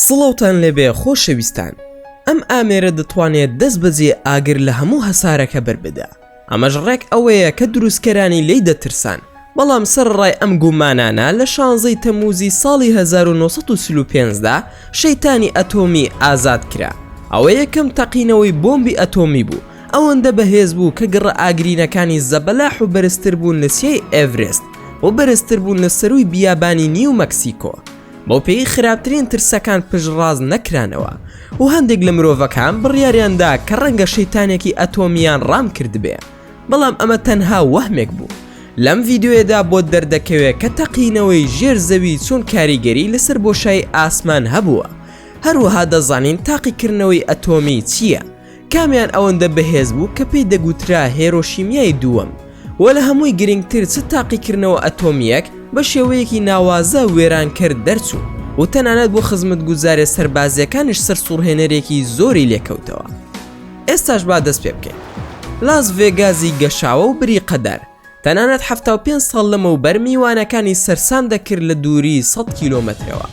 سڵاوتان لێبێ خۆشەویستان ئەم ئامێرە دەتوانێت دەست بەجێ ئاگر لە هەموو هەسارەکە بەربدا ئەمەش ڕێک ئەوەیە کە دروستکەرانی لێی دەترسان، بەڵام سەرەڕای ئەم گومانانە لە شانزەی تەمووزی ساڵی هەزار و نۆ سەد و چل و پێنج دا شەیتانی ئەتۆمی ئازاد کرا، ئەوە یەکەم تەقینەوەی بۆمبی ئەتۆمی بوو ئەوەندە بەهێز بوو کە گڕە ئاگرینەکانی زەبەلاح و بەرزتر بوون لە چیای ئێڤرێست و بەرزتر بوون لە سەرووی بیابانی نیو مەکسیکۆ. بەوپێیەی خراپترین ترسەکان پشتڕاست نەکرانەوە و هەندێک لە مرۆڤەکان بڕیاریان دا کە ڕەنگە شەیتانێکی ئەتۆمییان ڕام کردبێ، بەڵام ئەمە تەنها وەهمێک بوو. لەم ڤیدیۆیەدا بۆت دەردەکەوێ کە تەقینەوەی ژێر زەوی چۆن کاریگەری لەسەر بۆشایی ئاسمان هەبووە. هەروەها دەزانین تاقیکردنەوەی ئەتۆمی چییە. کامیان ئەوەندە بەهێز بوو کە پێی دەگوترا هێرۆشیمیای دووەم وە لە هەمووی گرنگتر چ تاقیکردنەوە ئەتۆمییەک بە شێوەیەکی ناوازە وێرانکەر دەرچوو و تەنانەت بۆ خزمەتگوزاریە سەربازیەکانیش سەرسوڕهێنەرێکی زۆری لێکەوتەوە ئێستاش با دەست پێ بکەین لاس ڤێگازی گەشاوە و بریقەدار تەنانەت حەفتا و پێنج ساڵ لەمەوبەر میوانەکانی سەرسام دەکرد لە دووری سەد کیلۆمەترەوە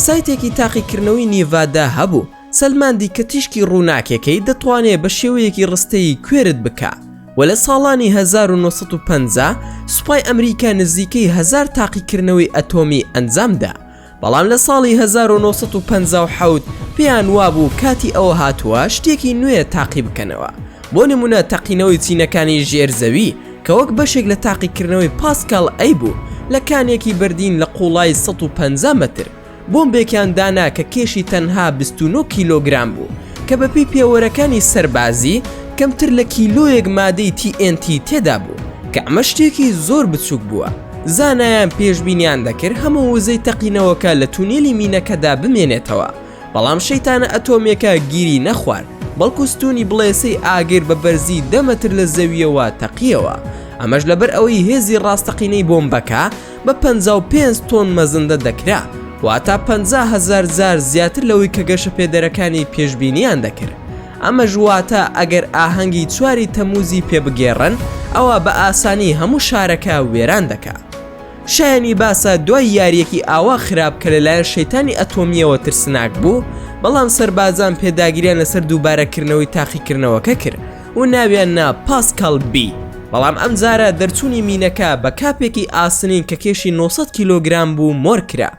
سایتێکی تاقیکردنەوەی نیڤادا هەبوو سەلماندی کە تیشکی ڕووناکیەکەی دەتوانێت بە شێوەیەکی ڕستەیی کوێرت بکا و لە ساڵانی 1950 سوپای ئەمریکا نزیکەی هەزار تاقیکردنەوەی ئەتۆمی ئەنجامدا بەڵام لە ساڵی هەزار و نۆ سەد و پەنجا و حەوت پێیان وابوو کاتی ئەوە هاتووە شتێکی نوێ تاقی بکەنەوە، بۆ نموونە تەقینەوەی چینەکانی ژێر زەوی کە وەک بەشێک لە تاقیکردنەوەی پاسکال ئەی بوو لە کانێکی بردین لە قووڵایی سەد و پەنجا مەتر بۆمبێکیان دانا کە کێشی تەنها بیست و نۆ کیلۆگرام بوو کە بەپێی پێوەرەکانی سەربازی کەمتر لە کیلۆیەک مادەی تی ئێن تی تێدا بوو کە ئەمە شتێکی زۆر بچووک بووە. زانایان پێشبینیان دەکرد هەموو وزەی تەقینەوەکە لە تونێلی مینەکەدا بمێنێتەوە بەڵام شەیتانە ئەتۆمێکە گیری نەخوارد بەڵکو ستونی بڵێسەی ئاگر بە بەرزی دەمەتر لە زەویەوە تەقیەوە ئەمەش لەبەر ئەوەی هێزی ڕاستەقینەی بۆمبەکە بە 55 تۆن مەزندە دەکرا واتا 500هزار زار زیاتر لەوەی کە گەشەپێدەرەکانی پێشبینیان دەکرد ئەمەش واتە ئەگەر ئاهەنگی چواری تەمووزی پێ بگێڕن ئەوا بە ئاسانی هەموو شارەکە وێران دەکا. شایەنی باسە دوای یاریەکی ئاوا خراپ کە لەلایەن شەیتانی ئەتۆمییەوە ترسناک بوو، بەڵام سەربازان پێداگریان لەسەر دووبارەکردنەوەی تاقیکردنەوەکە کرد و ناویان نا پاسکال بی، بەڵام ئەمجارە دەرچوونی مینەکە بە کاپێکی ئاسنین کە کێشی نۆ سەد کیلۆگرام بوو مۆر کرا.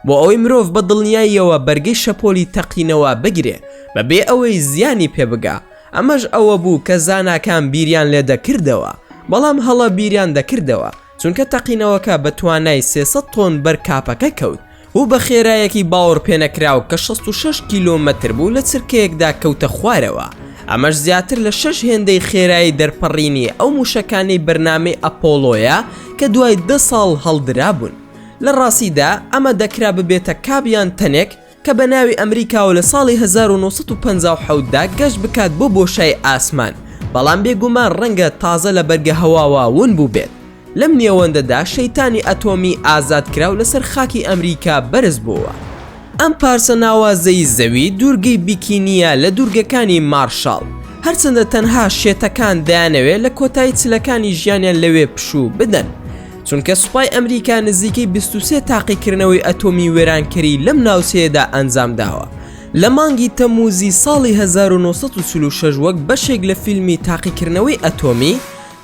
بۆ ئەوەی مرۆڤ بە دڵنیاییەوە بەرگەی شەپۆلی تەقینەوە بگرێ بە بێ ئەوەی زیانی پێ بگا، ئەمەش ئەوە بوو کە زاناکان بیریان لێ دەکردەوە، بەڵام هەڵە بیریان دەکردەوە، چونکە تەقینەوەکە بە توانای سێ سەد تۆن بەر کاپەکە کەوت و بە خێرایەکی باوەڕپێنەکراو کە شەست و شەش کیلۆمەتر بوو لە چرکەیەکدا کەوتە خوارەوە، ئەمەش زیاتر لە شەش هێندەی خێرایی دەرپەڕینی ئەو مووشەکانەی بەرنامەی ئەپۆڵۆیە کە دوای دە ساڵ هەڵدرابوون. لە ڕاستیدا ئەمە دەکرا ببێتە کاپ یان تەنێک کە بە ناوی ئەمریکاوە لە ساڵی هەزار و نۆ سەد و پەنجا و حەوت دا گەشت بکات بۆ بۆشای ئاسمان بەڵام بێگومان ڕەنگە تازە لە بەرگە هەواوە ون بووبێت لەم نێوەندەدا شەیتانی ئەتۆمی ئازادکراو لەسەر خاکی ئەمریکا بەرز بۆوە. ئەم پارچە ناوازەی زەوی دوورگەی بیکینییە لە دوورگەکانی مارشاڵ، هەرچەندە تەنها شێتەکان دەیانەوێت لە کۆتایی چلەکانی ژیانیان لەوێ پشوو بدەن، چونکە سوپای ئەمریکا نزیکەی 23 تاقیکردنەوەی ئەتۆمی وێرانکەری لەم ناوچەیەدا ئەنجام داوە لە مانگی تەموزی ساڵی 1946 وەک بەشێک لە فیلمی تاقیکردنەوەی ئەتۆمی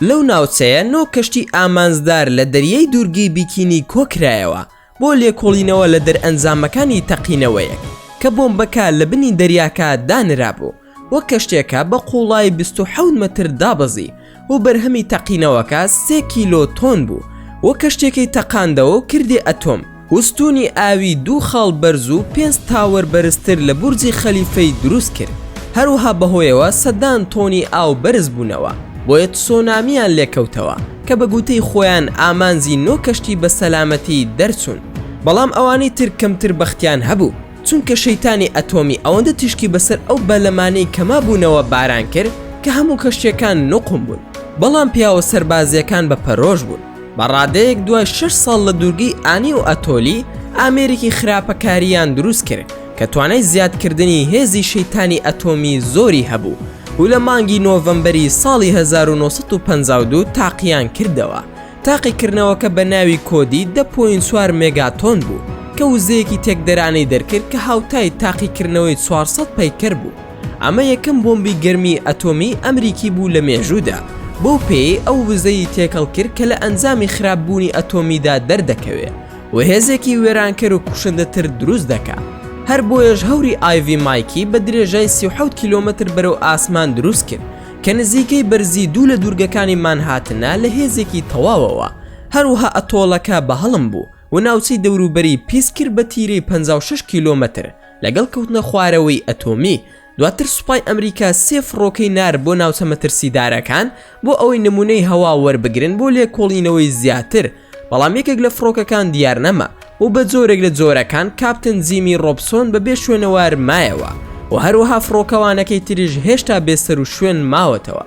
لەو ناوچەیە نۆ کەشتی ئامانجدار لە دەریای دوورگەی بیکینی کۆکرایەوە بۆ لێکۆڵینەوە لە دەرئەنجامەکانی تەقینەوەیەک کە بۆمبەکە لە بنی دەریاکە دانرابوو و کەشتیەکە بە قوڵایی بیست و حەوت مەتر دابەزی و بەرهەمی تەقینەوەکە سێ کیلۆ تۆن بوو و کەشتیەکەی تەقاندەوە و کردی ئەتۆم و ستوونی ئاوی دوو خاڵ بەرز و پێنج تاوەر بەرزتر لە بورجی خەلیفەی دروست کرد هەروەها بەهۆیەوە سەدان تۆنی ئاو بەرز بوونەوە بۆیە تسۆنامیان لێکەوتەوە. کە بە گووتەی خۆیان ئامانجی نۆ کەشتی بە سەلامەتی دەرچوون بەڵام ئەوانی تر کەمتر بەختیان هەبوو چونکە شەیتانی ئەتۆمی ئەوەندە تیشکی بەسەر ئەو بەلەمانەی کە مابوونەوە باران کرد کە هەموو کەشتیەکان نوقم بوون بەڵام پیاوە سەربازیەکان بە پەرۆش بوون بە ڕادەیەک دوای شەش ساڵ لە دوورگەی ئانی و ئەتۆلی ئامێرێکی خراپەکاریان دروست کرد کە توانای زیادکردنی هێزی شەیتانی ئەتۆمی زۆری هەبوو و لە مانگی نۆڤەمبەری ساڵی هەزار و نۆ سەد و پەنجا و دوو تاقیان کردەوە. تاقیکردنەوەکە بە ناوی کۆدی دە پۆینت چوار مێگاتۆن بوو، کە وزەیەکی تێکدەرانەی دەرکرد کە هاوتای تاقیکردنەوەی چوار سەد پەیکەر بوو. ئەمە یەکەم بۆمبی گەرمی ئەتۆمی ئەمریکی بوو لە مێژوودا، بەو پێیەی ئەو وزەی تێکەڵ کرد کە لە ئەنجامی خراپبوونی ئەتۆمیدا دەردەکەوێ. و هێزێکی وێرانکەر و کوشندەتر دروست دەکا هەر بۆیەش هەوری ئایڤی مایکی بە درێژای سی و حەوت کیلۆمەتر بەرەو ئاسمان دروست کرد کە نزیکەی بەرزی دوو لە دوورگەکانی مانهاتنە لە هێزێکی تەواوەوە هەروەها ئەتۆڵەکە بە هەڵم بوو و ناوچەی دەوروبەری پیس کرد بە تیرەی پەنجا و شەش کیلۆمەتر لەگەڵ کەوتنە خوارەوەی ئەتۆمی دواتر سوپای ئەمریکا سێ فڕۆکەی نارد بۆ ناوچە مەترسیدارەکان بۆ ئەوەی نمونەی هەوا وەربگرن بۆ لێکۆڵینەوەی زیاتر بەڵام یەکێک لە فڕۆکەکان دیار نەما و بە جۆرێک لە جۆرەکان کاپتن زیمی ڕۆپسۆن بە بێ شوێنەوار مایەوە و هەروەها فڕۆکەوانەکەی تریش هێشتا بێسەر و شوێن ماوەتەوە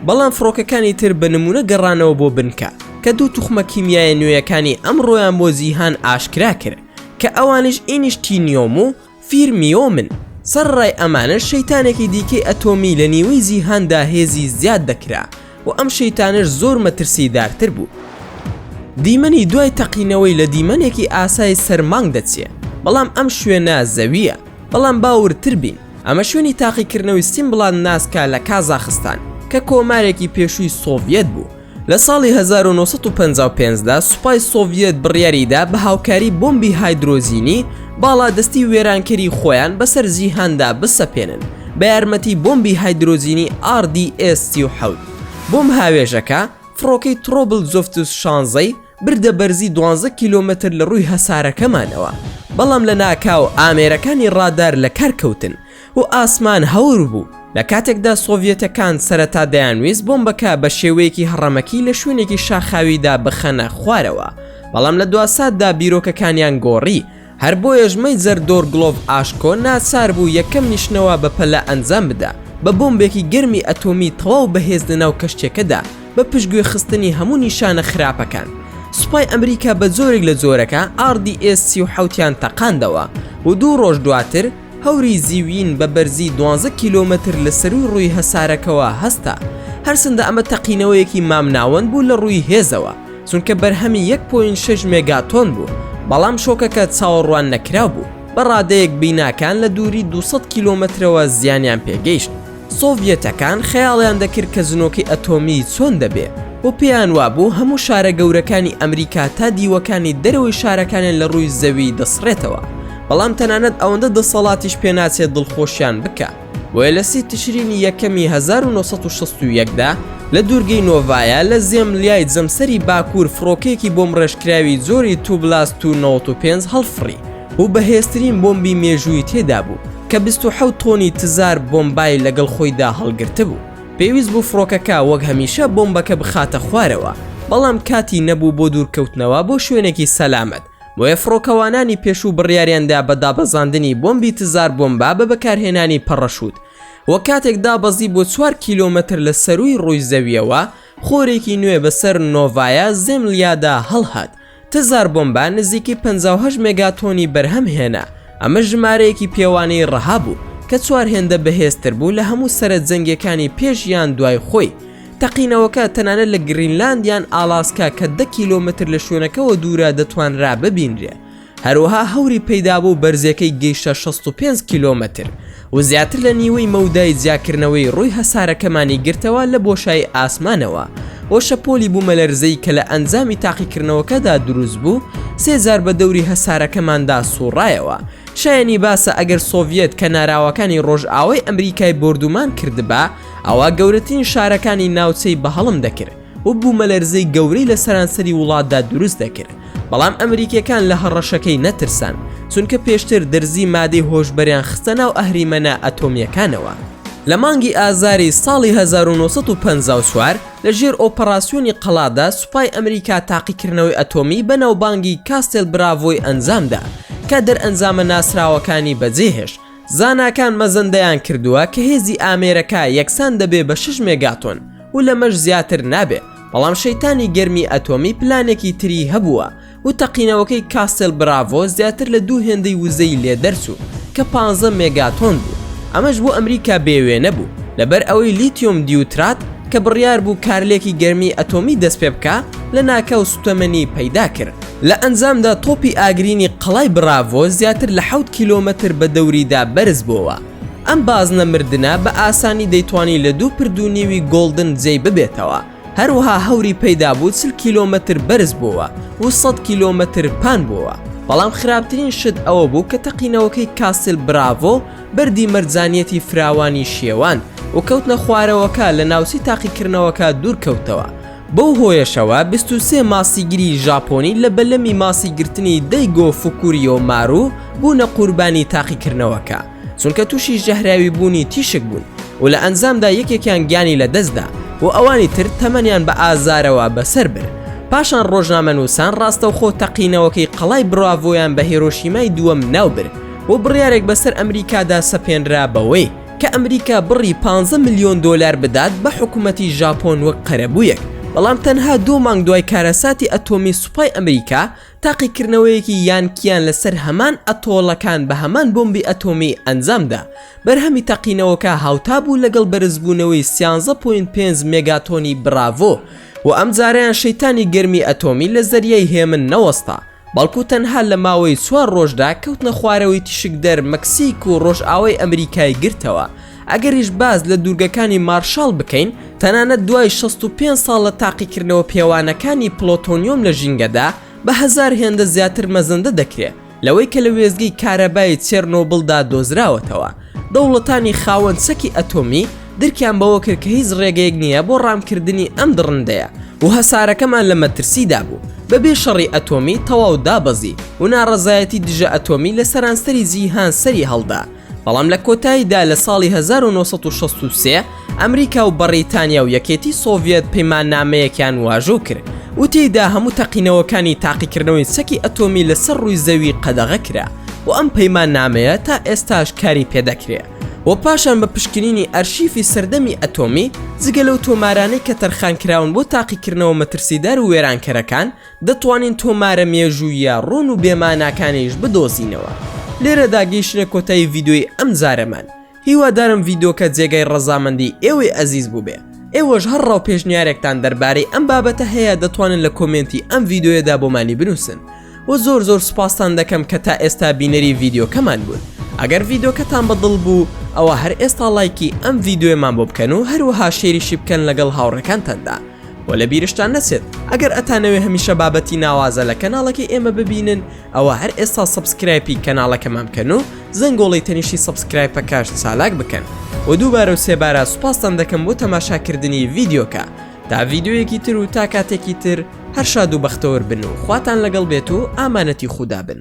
بەڵام فڕۆکەکانی تر بە نمونە گەڕانەوە بۆ بنکە کە دوو توخمە کیمیایە نوێیەکانی ئەمڕۆیان بۆ جیهان ئاشکرا کرد کە ئەوانش ئینیشتینیۆم و فیرمیۆ من سەڕڕای ئەمانەش شەیتانێکی دیکەی ئەتۆمی لە نیوەی جیهاندا هێزی زیاد دەکرا و ئەم شەیتانەش زۆر مەترسیدارتر بوو دیمەنی دوای تەقینەوەی لە دیمەنێکی ئاسای سەر مانگ دەچێ بەڵام ئەم شوێنە زەویە بەڵام با وردتر بین ئەمە شوێنی تاقیکردنەوەی سیمبڵان ناسکا لە کازاخستان کە کۆمارێکی پێشووی سۆڤیەت بوو لە ساڵی هەزار و نۆ سەد و پەنجا و پێنج دا سوپای سۆڤیەت بڕیاری دا بە هاوکاری بۆمبی هایدرۆجینی باڵادەستی وێرانکەری خۆیان بەسەر جیهاندا بسەپێنن بە یارمەتی بۆمبی هایدرۆجینی ئاڕ دی ئێس سی و حەوت بۆمب هاوێژەکە فڕۆکەی ترۆبل جۆفتوس شانزەی بردە بەرزی دوانزە کیلۆمەتر لە ڕووی هەسارەکەمانەوە بەڵام لە ناکاو ئامێرەکانی ڕادار لە کار کەوتن و ئاسمان هەور بوو، لە کاتێکدا سۆڤیەتەکان سەرەتا دەیانویست بۆمبەکە بە شێوەیەکی هەڕەمەکی لە شوێنێکی شاخاویدا بخەنە خوارەوە، بەڵام لە دواساتدا بیرۆکەکانیان گۆڕی، هەر بۆیەش مەیجەر دۆرگلۆڤ ئاشکۆ ناچار بوو یەکەم نیشنەوە بە پەلە ئەنجام بدا بە بۆمبێکی گەرمی ئەتۆمی تەواو بەهێز لەناو کەشتیەکەدا بە پشتگوێخستنی هەموو نیشانە خراپەکان. سوپای ئەمریکا بە جۆرێک لە جۆرەکە RDS-37یان تەقاندەوە و دوو ڕۆژ دواتر، هەوری زیوین بە بەرزی دوانزە کیلۆمەتر لە سەرووی ڕووی هەسارەکەوە هەستا، هەرچەندە ئەمە تەقینەوەیەکی مامناوەند بوو لە ڕووی هێزەوە، چونکە بەرهەمی یەک پۆینت شەش مێگاتۆن بوو، بەڵام شۆکەکە چاوەڕواننەکراو بوو، بە ڕادەیەک بیناکان لە دووری دوو سەد کیلۆمەترەوە زیانیان پێگەیشت. سۆڤیەتەکان خەیاڵیان دەکرد کە زنۆکەی ئەتۆمی چۆن دەبێ و پێیان وابوو هەموو شارە گەورەکانی ئەمریکا تا دیوەکانی دەرەوەی شارەکانیان لە ڕووی زەوی دەسڕێتەوە بەڵام تەنانەت ئەوەندە دەسەڵاتیش پێناچێت دڵخۆشیان بکا بۆیە لە سی تشرینی یەکەمی 1961 دا لە دوورگەی نۆڤایا لە زێملیای جەمسەری باکوور فڕۆکەیەکی بۆمبڕێژکراوی جۆری توبلاس تو 95 هەڵفڕی و بەهێزترین بۆمبی مێژووی تێدابوو کە بیست و حەوت تۆنی تزار بۆمبای لەگەڵ خۆیدا هەڵگرتبوو. پێویست بوو فڕۆکەکە وەک هەمیشە بۆمبەکە بخاتە خوارەوە، بەڵام کاتی نەبوو بۆ دوورکەوتنەوە بۆ شوێنێکی سەلامەت، بۆیە فڕۆکەوانانی پێشوو بڕیاریاندا بە دابەزاندنی بۆمبی تزار بۆمبا بە بەکارهێنانی پەڕەشوت و کاتێک دابەزی بۆ چوار کیلۆمەتر لە سەرووی ڕووی زەوییەوە، خۆرێکی نوێ بەسەر نۆڤایا زێملیادا هەڵهات. تزار بۆمبا نزیکەی پەنجا و هەشت مێگاتۆنی بەرهەم هێنا، ئەمەش ژمارەیەکی پێوانەیی ڕەها بوو، کە چوار هێندە بەهێزتر بوو لە هەموو سەرە جەنگیەکانی پێش یان دوای خۆی. تەقینەوەکە تەنانەت لە گرینلاند یان ئالاسکا کە دە کیلۆمەتر لە شوێنەکەوە دوورە دەتوانرا ببینرێ. هەروەها هەوری پەیدابوو بەرزیەکەی گەیشتە شەست و پێنج کیلۆمەتر. و زیاتر لە نیوەی مەودای جیاکردنەوەی ڕووی هەسارەکەمانی گرتەوە لە بۆشایی ئاسمانەوە، و شەپۆلی بوومەلەرزەی کە لە ئەنجامی تاقیکردنەوەکەدا دروست بوو سێ جار بە دەوری هەسارەکەماندا سووڕایەوە. شایەنی باسە ئەگەر سۆڤیەت کەناراوەکانی ڕۆژئاوای ئەمریکای بۆردومان کردبا، ئەوا گەورەترین شارەکانی ناوچەی بەهەڵم دەکرد. و بوومەلەرزەی گەورەی لە سەرانسەری وڵاتدا دروست دەکرد، بەڵام ئەمریکییەکان لە هەڕەشەکەی نەترسان، چونکە پێشتر درزی مادەی هۆشبەریان خستە ناو ئەهریمەنە ئەتۆمییەکانەوە. لە مانگی ئازاری ساڵی هەزار و نۆ سەد و پەنجا و چوار لە ژێر ئۆپەراسیۆنی قەڵادا سوپای ئەمریکا تاقیکردنەوەی ئەتۆمی بەناوبانگی کاستێل براڤۆی ئەنجامدا کە دەرئەنجامە ناسراوەکانی بەجێهێشت، زاناکان مەزەندەیان کردووە کە هێزی ئامێرەکە یەکسان دەبێ بە شەش مێگاتۆن. و لەمەش زیاتر نابێ بەڵام شەیتانی گەرمی ئەتۆمی پلانێکی تری هەبووە و تەقینەوەکەی کاسل براڤۆ زیاتر لە دوو هێندەی وزەی لێ دەرچوو کە پ مێگاتۆن بوو ئەمەش بۆ ئەمریکا بێوێ نەبوو لەبەر ئەوەی لیتیۆم دیوترات کە بڕیار بوو کارلێکی گەرمی ئەتۆمی دەست پێ بکە لە ناکاو سوتەمەنی پەیدا کرد لە ئەنجامدا تۆپی ئاگرینی قەڵای براڤۆ زیاتر لە حوت کیلۆمەتر بە دەوریدا بەرز بۆوە ئەم بازنە مردنە بە ئاسانی دەیتوانی لە دوو پرد و نیوی گۆڵدن جێی ببێتەوە، هەروەها هەوری پەیدا بوو چل کیلۆمەتر بەرز بۆوە و سەد کیلۆمەتر پان بۆوە، بەڵام خراپترین شت ئەوە بوو کە تەقینەوەکەی کاسل براڤۆ بەردی مەرجانیەتی فراوانی شێواند و کەوتنە خوارەوەکە لە ناوچەی تاقیکردنەوەکە دوورکەوتەوە، بەو هۆیەشەوە بیست و سێ ماسیگری ژاپۆنی لە بەلەمی ماسی گرتنی دەیگۆ فوکوریۆ مارو بوونە قوربانی تاقیکردنەوەکە چونکە تووشی ژەهراوی بوونی تیشک بوون و لە ئەنجامدا یەکێکیان گیانی لەدەستدا و ئەوانی تر تەمەنیان بە ئازارەوە بەسەر برد پاشان ڕۆژنامەنووسان ڕاستەوخۆ تەقینەوەکەی قەڵای بڕاڤۆیان بە هێرۆشیمای دووەم ناوبرد و بڕیارێک بەسەر ئەمریکادا سەپێنرا بەوەی کە ئەمریکا بڕی پانزە ملیۆن دۆلار بدات بە حکومەتی ژاپۆن وەک قەرەبوویەک، بەڵام تەنها دوو مانگ دوای کارەساتی ئەتۆمی سوپای ئەمریکا تاقیکردنەوەیەکی یانکییان لەسەر هەمان ئەتۆڵەکان بە هەمان بۆمبی ئەتۆمی ئەنجامدا، بەرهەمی تەقینەوەکە هاوتا بوو لەگەڵ بەرزبوونەوەی سیانزە پۆینت پێنج مێگاتۆنی براڤۆ و ئەمجارەیان شەیتانی گەرمی ئەتۆمی لە زەریای هێمن نەوەستا. بەڵکو تەنها لە ماوەی چوار ڕۆژدا کەوتنە خوارەوەی تیشکدەر مەکسیک و ڕۆژئاوای ئەمریکای گرتەوە، ئەگەریش باس لە دوورگەکانی مارشاڵ بکەین، تەنانەت دوای شەست و پێنج ساڵ لە تاقیکردنەوە پێوانەکانی پلۆتۆنیۆم لە ژینگەدا بە هەزار هێندە زیاتر مەزەندە دەکرێت لەوەی کە لە وێستگەی کارەبای چێرنۆبڵدا دۆزراوەتەوە. دەوڵەتانی خاوەن چەکی ئەتۆمی درکیان بەوە کرد کە هیچ ڕێگەیەک نییە بۆ ڕامکردنی ئەم دڕندەیە و هەسارەکەمان لە مەترسیدا بوو. بەبێ شەڕی ئەتۆمی تەواو دابەزی و ناڕەزایەتی دژە ئەتۆمی لە سەرانسەری جیهان سەری هەڵدا، بەڵام لە کۆتاییدا لە ساڵی هەزار و نۆ سەد و شەست و سێ، ئەمریکا و بەڕیتانیا و یەکێتی سۆڤیەت پەیماننامەیەکیان واژۆ کرد و تێیدا هەموو تەقینەوەکانی تاقیکردنەوەی چەکی ئەتۆمی لەسەر ڕووی زەوی قەدەغە کرا و ئەم پەیماننامەیە تا ئێستاش کاری پێدەکرێ و پاشان بە پشکنینی ئەرشیفی سەردەمی ئەتۆمی جگە لەو تۆمارانەی کە تەرخانکراون بۆ تاقیکردنەوە مەترسیدار و وێرانکەرەکان دەتوانین تۆمارە مێژووییە ڕوون و بێماناکانیش بدۆزینەوە لێرەدا گەیشتینە کۆتایی ڤیدۆی ئەمجارەمان هیوادارم ڤیدۆکە جێگای ڕەزامەندی ئێوەی ئەزیز بووبێ ئێوەش هەر ڕاو پێشنیارێکتان دەربارەی ئەم بابەتە هەیە دەتوانن لە کۆمێنتی ئەم ڤیددیوەدا بۆمانی بنووسن و زۆر زۆر سوپاستان دەکەم کە تا ئێستا بینەری ڤیددیوکەمان بوون ئەگەر ڤیددیوکەتان بەدڵ بوو ئەوە هەر ئێستا لایکی ئەم ڤیددیوێمان بۆ بکەن و هەروەها شێریشی بکەن لەگەڵ هاوڕەکانتاندا و لە بیرشتان نەچێت ئەگەر ئەتانەوێ هەمیشە بابەتی ناوازە لە کەناڵەکەی ئێمە ببینن ئەوە هەر ئێستا سەبسکرایپی کەناڵەکەمان بکەن و زەنگۆڵی تەنیشی سەبسکرایپەکەش چالاک بکەن و دووبارە و سێبارە سوپاستان دەکەم بۆ تەماشاکردنی ڤیددیوکە تا ڤیددیویەکی تر و تا کاتێکی تر هەر شاد و بەختەوەر بن و خواتان لەگەڵ بێت و ئامانەتی خودا بن.